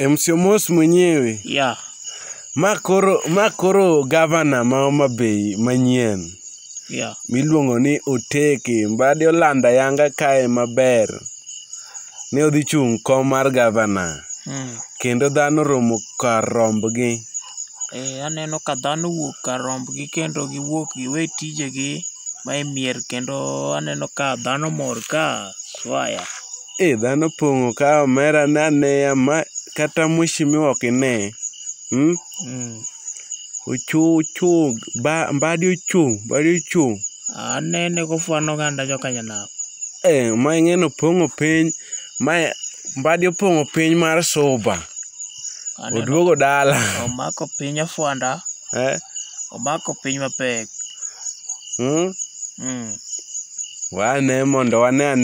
MC Omos mwenyewe. Yeah. Ma koro ma koro gavana ma Homa Bay manyien Yeah. miluongo ni Oteke Mbadi olando ayanga kae maber. Ne odhi chung' kom mar gavana Mm. kendo dhano romo kar rombgi. Eh, aneno ka dhano wuok kar rombgi kendo giwuok giwe tijegi ma e mier kendo aneno ka dhano mor ka swaya. Eh dhano pong'o ka omera ne aneya ma kata mheshimiwa ok ine. Hmm? Mm. Ochung' ochung' ba mbadi ochung' mbadi ochung'. Anene kofwano oganda jokanyanam. Eh ma ing'eni opong'o piny ma mbadi opong'o piny mar suba. Aneno Oduogo dala. omako piny ofwanda, Eh? omako piny mapek. Hmm? Mm. Wane mondo wane ane.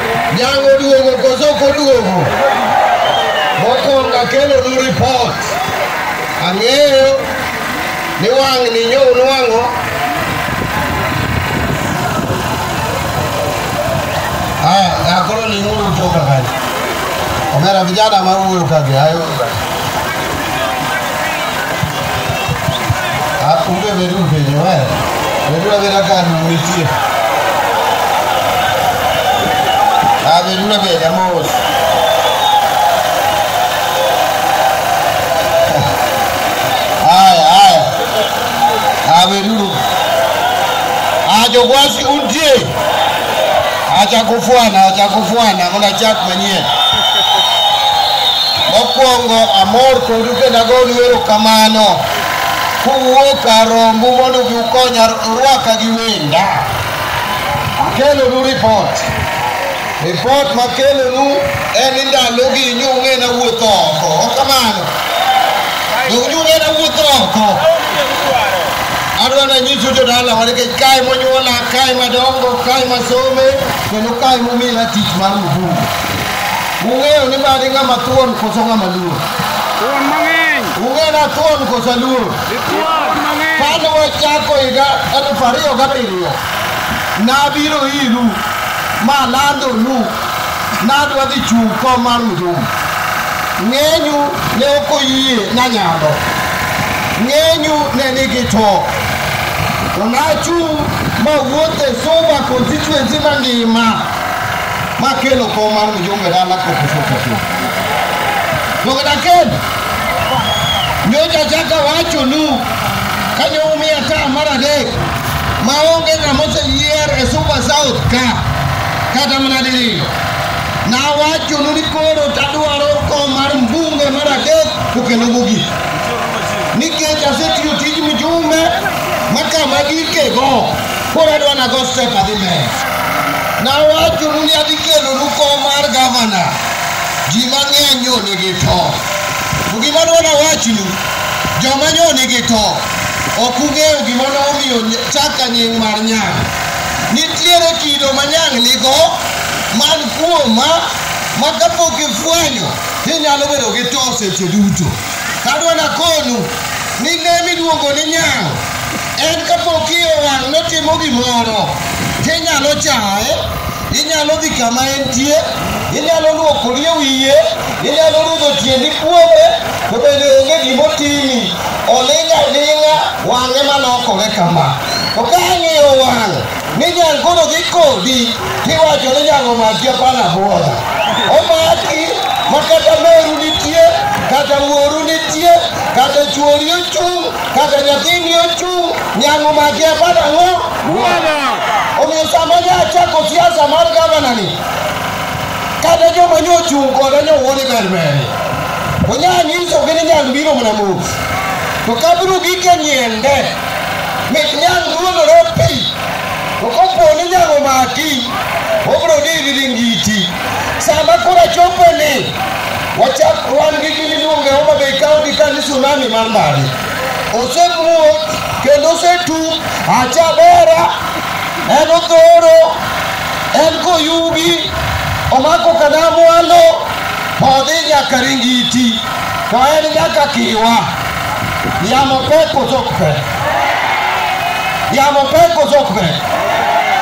Nyang' oduogo koso ok oduogo? Mokwongo akelonu ripot. Ang'eyo ni wang'ni nyo unwang'o. Haya, na koro ling'uru utoka kanyo. Omera vijana mawuoyo kagi, hayo. Ah, Onge bedu penjo wer. Bedu abeda ka no nitie. Ah, bedu na beda mos. Haya, haya. Ah, bedu. Ah, jogwasi untie. Acha kufwana, acha kufwana, muna chak manyien. Mokwongo amor kodu kendo agonu erokamano kuwuok kar rombu mondo ubi ukonya rwaka gi wenda. Akelonu ripot. Ripot makelonu en ni ndalogi nyung'e na wuotho oko. Kamano. Nyung'e na wuotho oko. Adwa ni anyisi uto dalawa nikech kae monyuola, kae madongo, kae masome, kendo kae momila tich mar mfungo. Ung'eyo ni bade ng'ama thuon koso ng'ama luor? Thuon mang'eny. Ung'eyo na thuon koso luor? Thuon mang'eny. Kane wachako higa elfu ariyo gabiriyo, nabiro iru malandonu nadwa dhi chung' kom mar mudhum. Ng'enyu ne ok oyie nanyalo Ng'enyu ne nigi to. To nachung' ma wuotho e Suba constituency mangima makelo kom mar mjumbe dala kokusokoso. Dogda Ken, nyocha chaka wachonu kanyo umiya ta mar adek maonge ng'ama oseyier e Suba South ka kata mana diriyo. Nawachonu ni koro tadwaro kom mar mbunge mar adek to kendo mogik. nikech asetiyo tij mjumbe ma kama gikego koro adwa nago step adhi mbele nawachonu ni adhi kelonu kom mar gavana ji mang'eny nyo nigi to to gima dwa nawachnu joma nyo nigi to ok ung'eyo gima nomiyo ny- chaka nying mar nyang' nitiere kido ma nyang' nigo man kuoma ma kapok ifwenyo Ninyalo bedo gi to seche duto. Kadwa nakonu ni le miluongo ni nyang' en kapok iye wang' notimo gimoro tinyalo chaye, inyalo dhi kama entie, inyalo luoko rie wiye, inyalo rudho tiendi kuome, to bende onge gimotimi. Oling' aling'a wang'e malokore kama. To ka ang'iyo wang' ni nyang koro dhi kodi tiwacho ni nyang omaki apana buoda omaki ma kata meru nitie kata wuoru nitie kata chuori ochung' kata nyathini ochung' nyang omaki apana ang'o omiyo sama ne achako siasa mar gavanani kata joma ne ochung' koda ne owuo ni berberi onyang'isogi ni nyang biro mana mos to kabiro gike nyiende Mit nyang' ruodhore pi, to kopo ni nyang' omaki, obiro dhi gi ringiti. Sama koro achopo ni, wachak wan gi gini luonge Homa Bay County ka ni tsunami mar ndani. Osemuot kendo osetum, acha bera, en othoro, en koyugi, omako kadamwalo, odhi nyaka ringiti. To en nyaka kiwa. Yamo pek koso ok pek? Yamo pek koso ok pek?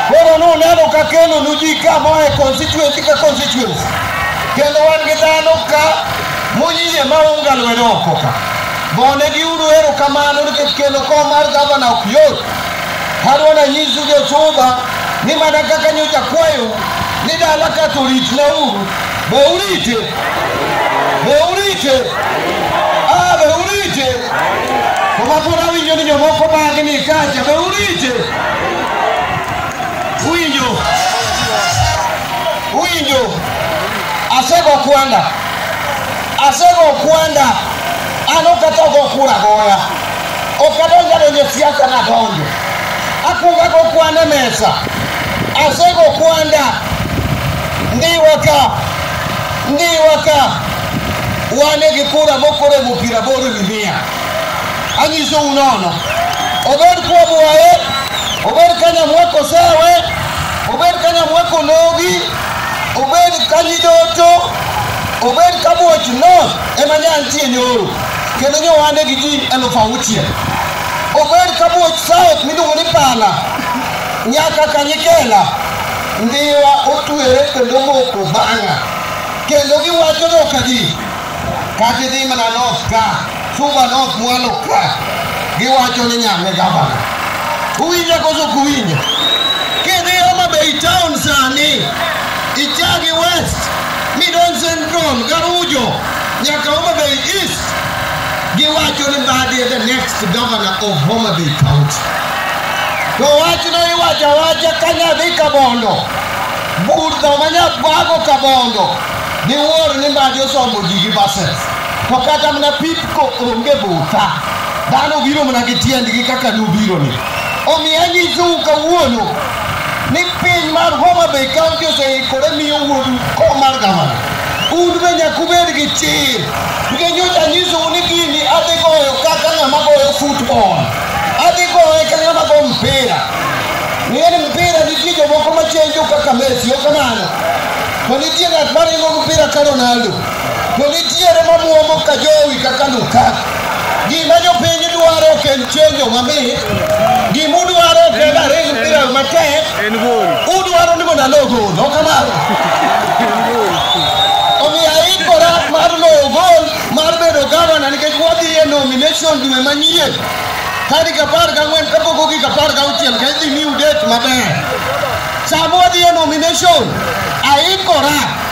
Koro nuneno ka kelo nu ji ka moa e constituency ka constituency. Kendo wan gi dhano ka muyie ma unga lwedo oko ka. Gone gi uru erokamano nikech kelo kom mar gavana ok yot. Adwa nanyisu josuba ni mana kaka nyocha kwayo ni dala ka to ritna uru Beulite. Beulite. Ah, beulite. Koma pona winyo ni jomoko bagi ni kacha. Beulite. Winyo. Winyo. Asego kwanda. Asego kwanda. Ano kata go kura goya. Ok adonjo adonjo e siasa nadonjo. Akuongo ago kwan e mesa. Asego kwanda. Ndiwa ka. Ndiwa ka. Wane gi kura mokoro e piero aboro ewi mia. Anyisou nono. Obed Kwabwaye, obed Kanyamweko Sewe, obed Kanyamweko Logi, obed Kanyidoto, obed Kabuoch North, ema ne antie nyoro kendo ne ohande gi ji elufu auchiel omed ka muoch south miluongo ni pala nyaka kanyikela ndiwa otwere kendo moko bang'a kendo giwacho nokadi kata idhi mana north ka suba north mwalo ka giwacho ni nyame gavana uwinja koso ok uwinja kidhi homa bay town sani ichagi west Midon Central, Garujo, nyaka Homa Bay East, giwacho ni Mbadi is the next governor of Homa Bay County. To wachno iwacho awacha ka nyadhi Kabondo, budho ma nyabwago Kabondo, diwuor ni Mbadi osombo ji gi bases. To kata mana pipko onge butha, dhano biro mana gi tiendgi kaka nubironi. Omiyo anyisou kawuono ni piny mar Homa Bay County oseikore miyo wuodu kom mar gavana. Un be nyaka ubed gi chir nikech nyocha anyisou ni gini adhi goyo kaka ng'ama goyo football, adhi goye ka ng'ama go mpira. Ng'e ni mpira nitie jomoko machenjo kaka Messi, ok kamano? To nitie ng'at maringo mpira ka Ronaldo. To nitiere mamuomo ka jowi kaka Lukaku. Gima jopiny dwaro ok en chenjo mamit. Gima udwaro ok en ariyo mpira matek. Udwaro ni mondo alo gol. Ok kamano. Omiyo aikora mar loyo gol mar bedo gavana nikech wadhi e nomination dwe manyien. Tarik apar gang'wen kapok ogik apar gauchiel ka idhi miu date maber. Sama wadhi e nomination aikora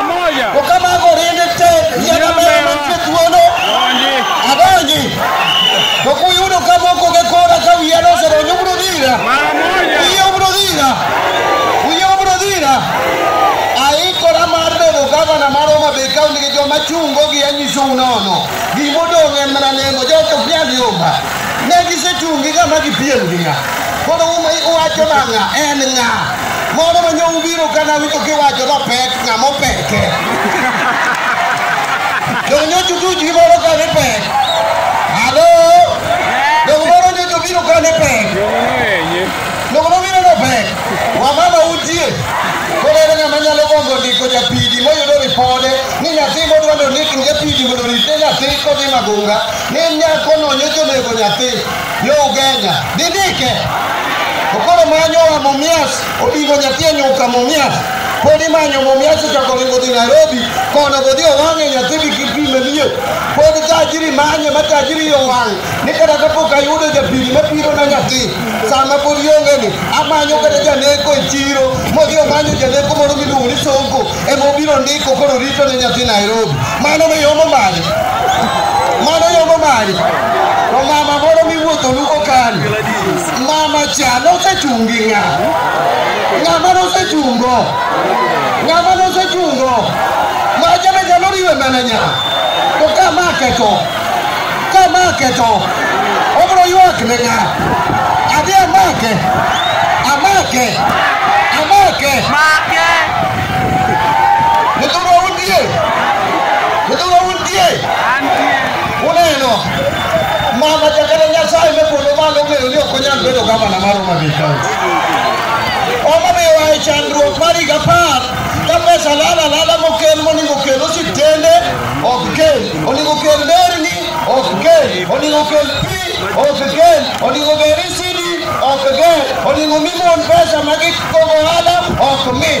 To ka mago oriembe tek, yiero moro mantie thuolo, adonji. To kuyudo ka moko ge kora ka wiya nosedonjo, ubiro dhira. Wiya ubiro dhira. Wiya ubiro dhira. Aikora mar bedo gavana mar Homa Bay County gi joma chungo gi anyisou nono. Gima odong' en mana lemo, joto ok nyal yomba. Ne gisechung' gi ng'ama gipiem gi ng'a. Koro uwacho na ng'a, en ng'a. Moro ma nyo ubiro ka nawinjo kiwacho ni opek, ng'ama opeke. Donge nyocha utuch gi moro ka ni pek? Halo? Donge moro nyocha obiro ka ni pek? Donge nobiro ni opek? Wamama utie. Koro ere ng'ama nyalo gombo ndiko japidi moyudo ripode ni nyathi modwa ni ondik ni japidi mondo orit ne nyathi kodhi magunga ni en nyakono nyocha onego nyathi yo ugenya didike okoro manyo wa mumias odingo nyathi e nyuka mumias pod imanyo mumias ochako ringo dhi nairobi kono godhi owang'e nyathi gi kipime liye pod tajiri manye ma tajiri yo wang' ni kata kapok ayudo japiri mapiro na nyathi sama pod iongeni amanyo kata janeko e chiro modhi omanyo janeko moro miluongo ni sonko ema obiro ndiko koro rito ne nyathi Nairobi. Mano be yomo mali. Mano yomo mali. To mama moro miwuotho luko kani. Mama cha nosechung' gi ng'a? Ng'ama nosechungo? Ng'ama nosechungo? Macha be nyalo riwe mana nya. To ka ma ketho. Komake to obiro ywak ne ng'a? Adhi amake, amake, amake. Nyithindwa untie? Nyithindwa untie? Uneno? Mama jakata Nyasaye me polo malo ong'eyo ni ok onyal bedo gavana mar Homa Bay County. Homa Bay oa e chandruok mar higa apar ka pesa lala lala mokel monego okel osiptende ok kel onego kel nderni ok kel onego kel pi ok kel onego ger isidi ok ger onego mi mon pesa ma gikogo ohala ok mi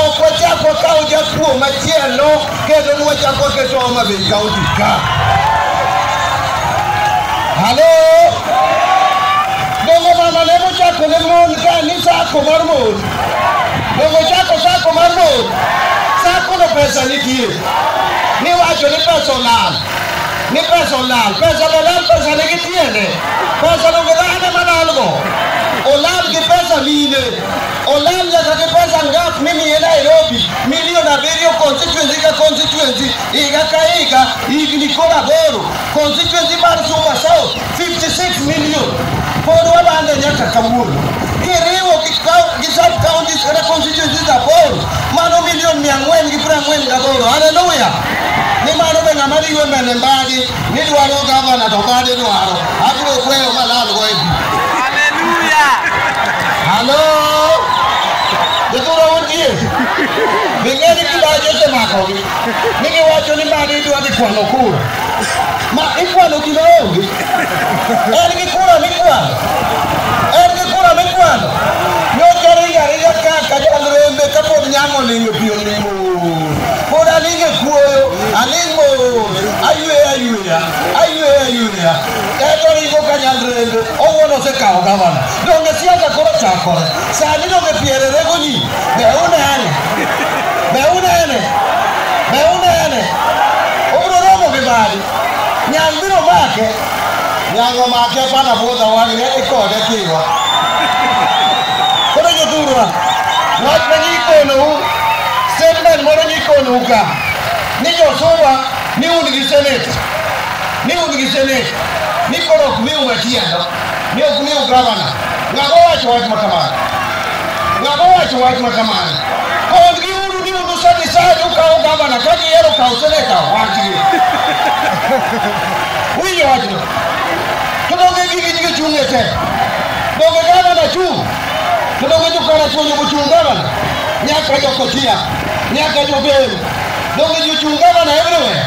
ok wachak wakaw jakuo machielo kendo ni wachak waketo Homa Bay kaunti ka halo dongo mama ne mochako ne mon ka ni sako mar mon dongo chako sako mar mon sakono pesa nitie Niwacho ni pesa olal. Ni pesa olal. Pesa olal pesa nigi tiende. Pesa donge dhano malalgo. Olal gi pesa mine. Olal nyaka gi pesa ngap mimiye Nairobi. Milion abiriyo constituency ka constituency. Higa ka higa. Higni koro aboro. Constituency mar Suba South. 56 million pod walando nyaka kawuono kiriwo gi coun- gi sub counties kata constituencies aboro mano milion mia ang'wen gi piero ang'wen gaboro haleluya ni mano be ng'ama riwe mene mbagi ni dwaro gavana to bade dwaro abiro kweyo malalgo e bi halo jodhuro wutie bing'eni kibaji osemakogi ni giwacho ni mani idwa dhi kwano kura ma ikwano gima onge en gi kura mikwano en gi kura mikwano nyocha ringo aringa kaka jalrembe kapod nyamo olingo pi olingo pod alingo e kuoyo alingo ayweya ayweya ayweya ayweya eto ringo ka nyalrembe owuon osekawo gavana donge siasa koro chakore sani donge piere rego nyinyi Be unene? Be unene? Be unene? Obiro romo gi mali. Nyang' biro make. Nyang' omake bana bwodha wang'e ikode kiwa. Koro jothurwa, wach ma nyikonou, statement moro nyikonou ka, ni jothurwa ni un gi senate, ni un gi senate, ni koro ok miu matiendo, ni ok miu gavana. Ng'ago wacho wach ma kamano? Ng'ama owacho wach ma kamano? Kondgi uru ni un usani sani ukawo gavana ka gihero kawo seneta wachgi. Winjo wachno. To donge gigi nyige chung' e te? Donge gavana chung'? To donge jokara chuonyo mochung' gavana? Nyaka jokochia, nyaka joberu. Donge jochung' gavana everywhere?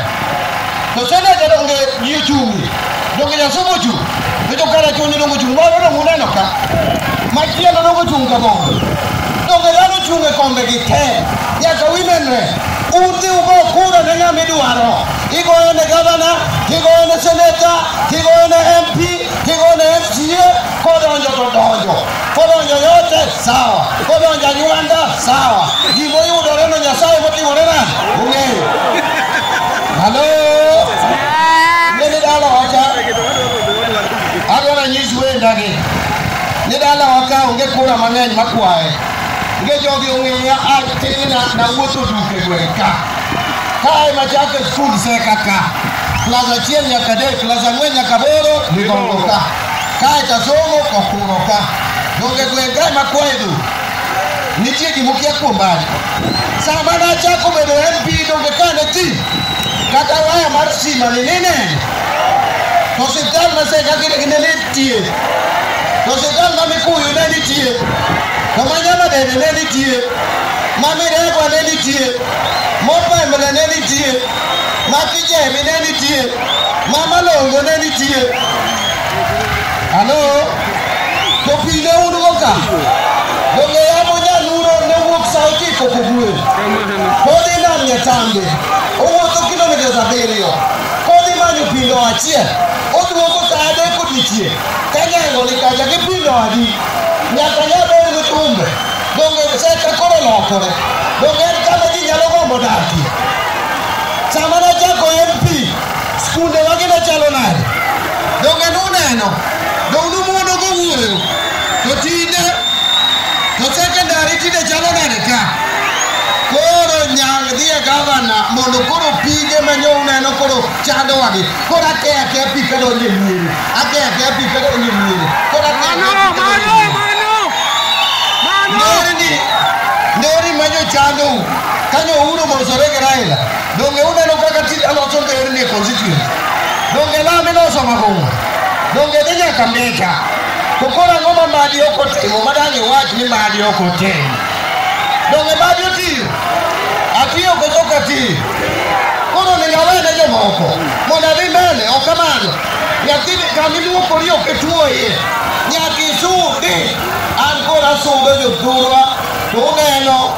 To seneta donge ji ochung'ie? Donge Nyasaye mochung'? To jo kara chunyi donge ochung'? Moro donge uneno ka? Machielo donge ochung' ka bongo. Donge dhano ochung' e kombe gi te? Nyaka winenre. Udhi ugo kura ne ng'ama idwaro. Igoyo ne gavana, tigoyo ne seneta, tigoyo ne MP, tigoyo ne MCA, kodonjo to donjo. kodonjo yote sawa kodonjo anywanda sawa gimoyudoreno nyasaye motimore nade ong'eyo halo ne ni dala wacha adwara nyis wendagi ni dala waka onge kura mang'eny makwaye nge jogi ong'eya atina nawuotho duke gweng' ka kae machake skul seka ka klas achiel nyaka adek klas ang'wen nyaka aboro nigongo ka Kae kasomo okuro ka. Donge gweng' kae ma kwaye dhu. Nitie gimukia kuom bari. Sama nachako bedo MP donge ka ne ti. Kata waya mar sima ni nene. To siptal ma seka kine kine ne tie. To siptal ma mikuyu ne nitie. To ma nyama dede ne nitie. Ma miregwa ne nitie. Mopemle ne nitie. Ma kijemi ne nitie. Mama longo ne nitie. Halo. To pile un go ka. Donge yamo nyaluno ne wuok sa ochiko kogwe. Kodhi nam nyatambe. Owuotho kilomitas abiriyo. Kodhi manyo pindo achiel. Oduogo sa adek odiechieng'. Ka nyango ni kacha gi pindo adi. Nyaka nyabed gi tumbe. Donge seka koro lokore. Donge en kama ji nyalo gombo dakie. Sama nachako MP, skunde wagi ne chalo nade? Donge nuneno? Donge numuono go wuoyo? To tinde, to sekondari tinde chalo nade ka? Koro nyang' dhi e gavana mondo koro pige ma nyo uneno koro chandowa gi. Koro ake ake pi ka donjo e miere. Ake ake pi ka donjo e miere. Koro ake ake pi ka donjo e miere. Nderni, nderni ma jochando Kane Ouru omosore gi Raila, donge uneno kaka tij aloso nderni e constituency? Donge lami loso magong'o? Donge dhi nyaka Mbita? To koro ang'o ma Madi ok otimo ma dang' iwach ni Madi ok otimo? Donge Madi otiyo? Atiyo koso ok atiyo? Koro onego awe ne jomoko mondo adhi mbele, ok kamano. Nyathi kama iluokori ok ituo iye, nyaka isudi. An koro asudo jothurwa to uneno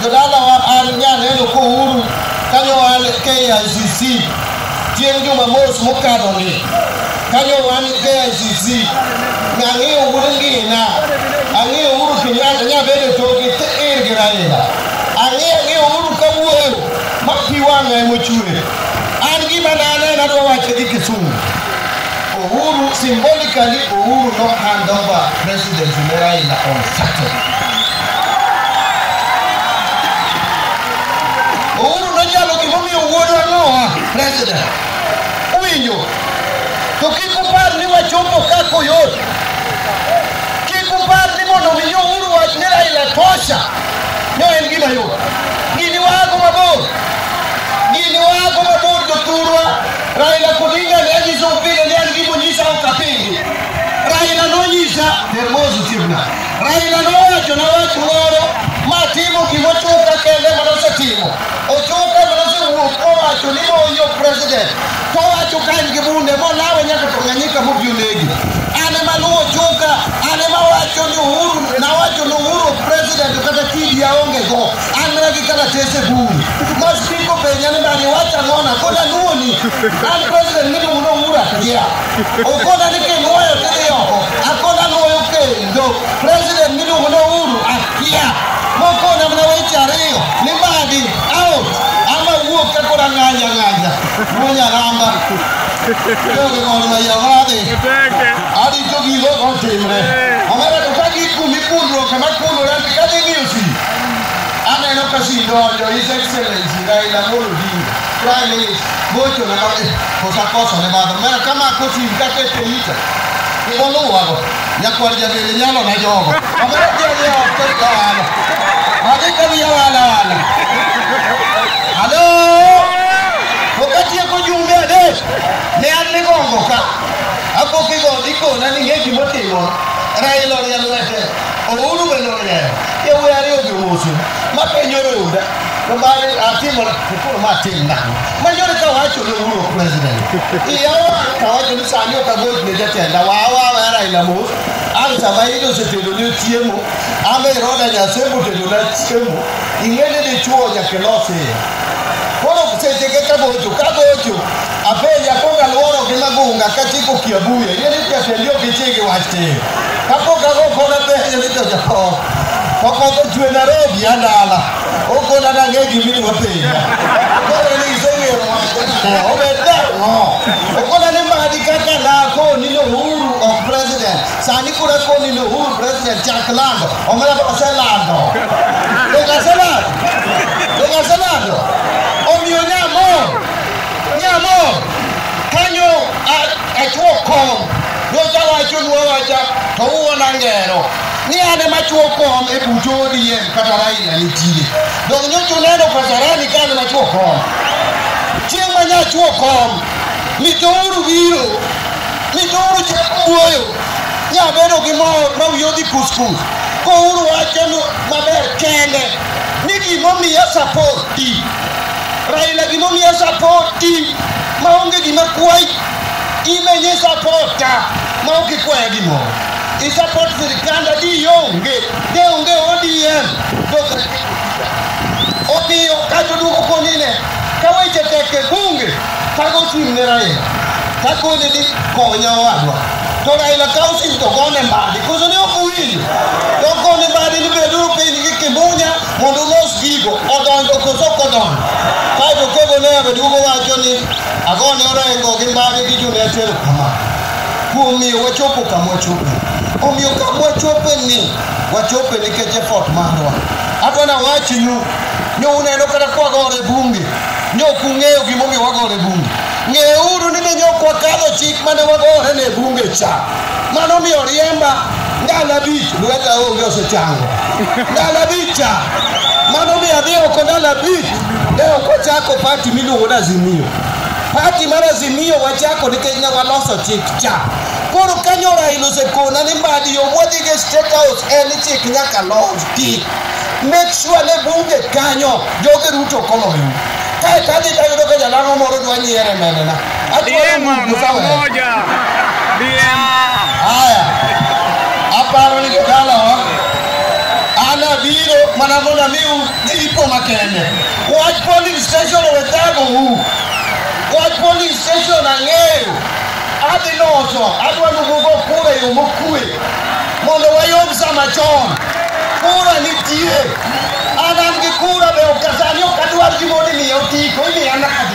Jodalawa an nyaneno kouru kanyo an KICC chieng' Jumamos mokadoni kanyo an KICC nang'eyo uru ngina ang'eyo uru Kenyatta nyabedo togi ir gi Raila ang'eyo ang'eyo uru kawuoyo ma pi wang'a emochwer an gima naneno adwa wacho gi Kisumu Uhuru symbolically Uhuru no hand over presidency ne Raila on Saturday Uhuru noyalo gimomiyo wuodwa noa president. Uwinjo? To kik upar ni wachopo ka koyot. Kik upar ni mondo mi Uhuru wach ni Raila tosha. No en gima yot. Gini wago mabor. Gini wago mabor jothurwa. Raila Odinga ne anyiso pile ne an gimonyisa ok apingi. Raila nonyisa Hermoso Chief Nyaga. Raila nowacho na wach moro ma timo gima ochuka kende ma nosetimo. Ochuka ma nosewuok kowacho ni moyo president. Kowacho ka en gi bunde molawe nyaka Tanganyika mobi onegi. An ema luwo ochuka, an ema wacho ni Uhuru, nawacho ni Uhuru president kata kidi aonge go. An mana gi kalatese buru. Mas piko penja ni bani wacha ngona koda nuoni. An president ni muno mura kia. Okoda ni ke nuoyo tiri oko. Akoda nuoyo ke ndo. President ni muno uru akia. Mokona mna weche ariyo ni badi out. Ama wuok ka koda ng'anya ng'anya. Muonya ramba. Yogi ng'ol ma yawade. Adi jogi lo otimre. Omera to ka gikumi kulruok kama kulore ka dhi miyo si. Aneno ka si donjo His Excellency Raila Amolo Odinga. Raila is gocho na kama kosa kosa ne madho. Mara kama kosi kake pelita. Ibolo wago. Nyakwar jabele nyalo na jogo. Amara jabele ya wakari ka wala. Magi kami ya wala wala. Halo. Wakati ya kujumbe ade. Ne anne gongo ka. Apo kigo diko na ninge kimotimo. Raila ya lwete. Ouru bende ong'eyo. Yawuoyi ariyo jomoso ma penjo roda. To bang'e atimo koro ma atim nang'o? Ma yore ka wacho ne Uhuru ok president. Iya owang' ka wacho ni sani ok agoch ne jatenda. Wa wa wa Raila mos. Ang' sama iyudo osetedo ne chiemo. Ang' be roda nyasembo otedo na chiemo. Ing'e ni dichuo nyaka ilos iye. Koro seche ka kagocho kagocho Apenja kok alworo gi magunga kachiko kiabuye yie ni jatendie ok ichi gi wach tir. Kapok ago kona penjo ni to japok. To koth ochwe Nairobi adala. Okona nang'e gimiluongo penja. Koro ni iseng'eyo wach ang'o? Obed nang'o? Okona ni madi kaka nakoni ni Uhuru ok president. Sani kura koni ni Uhuru president chak lando. Omera to aselando. Donge aselando? Donge aselando? Omiyo nyamor. Nyamo kanyo achwo kom nyocha wacho nwa wacha to uwona ngero ni an ema chwo kom e buto odiem kata raila nitie dong nyocha uneno kasarani ka an ema chwo kom chieng' ma nyachwo kom mitouru biro mitouru chako wuoyo nyabedo gi mor ma wiye odhi kuskus kouru wacho maber kende ni gimomiyo support Raila gimomiyo sapoti maonge gima kwayi imenye sapota maok ikwaya gimoro isapot sirikand adi onge de onge odm dosre omiyo kato duoko konine ka weche tek e bunge kago ochung' ne raila takone ni konya owadwa to raila ka osinto gone mbadi koso ne ok owinjo to gone mbadi ni beduru piny gi kimunya Mondo ulos gigo odonjo koso ok odonjo. Kaeto kogo ne omedo duogo wacho ni agone orengo gi mbagi gi Junet erokamano kuom miyo wachopo kama wachope. Omiyo kama wachope ni wachope nikech effort marwa. Adwa nawachnu ni uneno kata kwagore bunge ni ok ung'eyo gimomiyo wagore bunge. Ng'euru ni ne ok wakadho chik mane wagore ne bunge cha. Mano omiyo riemba Ndalo abich lweta onge osechango. Ndalo abich cha. Mano mi adhi oko ndalo abich. Ne ok ochako pati miluongo ni Azimio. Pati mar Azimio wachako nikech ne waloso chik cha. Koro kanyo Raila osekona ni mbadi yo mwadhigo e State House en chik nyaka los ti. Make sure ne bunge kanyo joge Ruto koloyo. Kae to adhi tayudo ka jalang'o moro dwa nyiere menena. DM mara moja. DM. Haya, aparo ni jodalawa an abiro mana mondo amiu jipo makende. Wach polling station owe thago u. Wach polling station ang'eyo. Adhi loso, adwa nugogo kura e yo mokue mondo wayom sama chon. Kura nitie. An an gi kura be ok asani ok adwar gimoro imiya otiko, imiya nadi.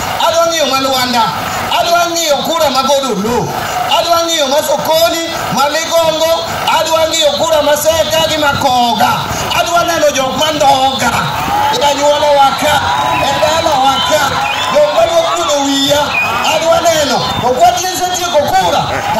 adwa ng'iyo ma Lwanda, adwa ng'iyo kura ma Godolo, adwa ng'iyo ma Sokoni, ma Ligongo, adwa ng'iyo kura ma Seka gi ma Koga, adwa neno jok ma Ndoga, e anyuola waka, e dala waka, jok ma dwa kuno wiya, adwa neno, to kwa tiese tieko kura, to